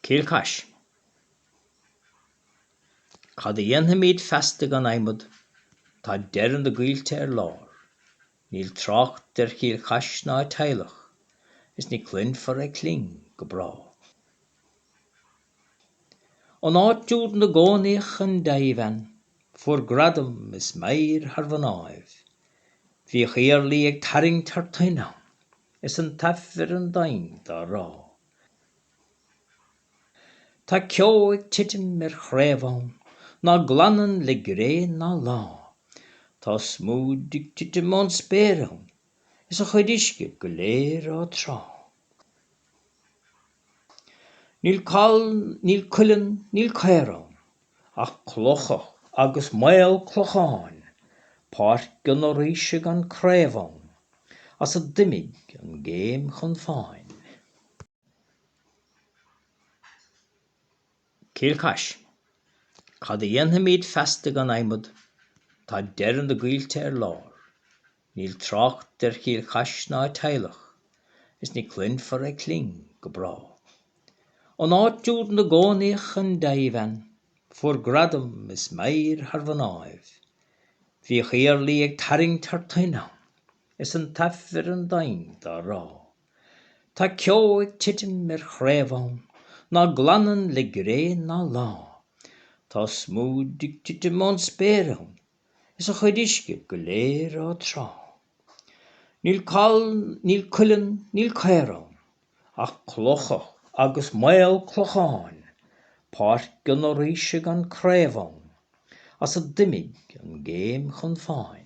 Cill Chais. Cad a dhéanfaimíd feasta gan adhmad? Tá deireadh na gcoillte ar lár. Níl trácht ar Chill Chais ná a teaghlach, is ní chluinfear a cling go bráth. An áit úd 'na gcónaíodh an deighbhean fuair gradam is meidhir thar mhnáibh. Bhíodh Iarlaí ag tarraingt thar toinn ann is an t-aifreann doimhin dá rá. Tá ceo ag titim ar chraobh ann ná glanann le gréin ná lá. Tá smúid ag titim ón spéir ann is a chuid uisce go léir ag trá. Níl coll, níl cuileann, níl caor ann, ach clocha agus maolchlocháin, páirc an fhoraoise gan craobh ann, is d'imigh an géim chun fáin. Cill Chais, Cad a dhéanfaimid feasta gan adhmad, tá deireadh na gcoillte ar lár. Níl trácht ar Chill Chais ná a teaghlach, is ní chluinfear a cling go bráth. An áit úd 'na gcónaíodh an deighbhean, fuair gradam is meidhir thar mhnáibh, Bhíodh Iarlaí ag tarraingt thar toinn ann, is an t-aifreann doimhin dá rá. Tá ceo ag titim ar chraobh ann, ná glanann le gréin ná lá, Tá smúid ag titim ón spéir ann, is a chuid uisce go léir ag trá. Níl coll, níl cuileann, níl caor ann, ach clocha agus maolchlocháin, páirc an fhoraoise gan craobh ann, is d'imigh an géim chun fáin.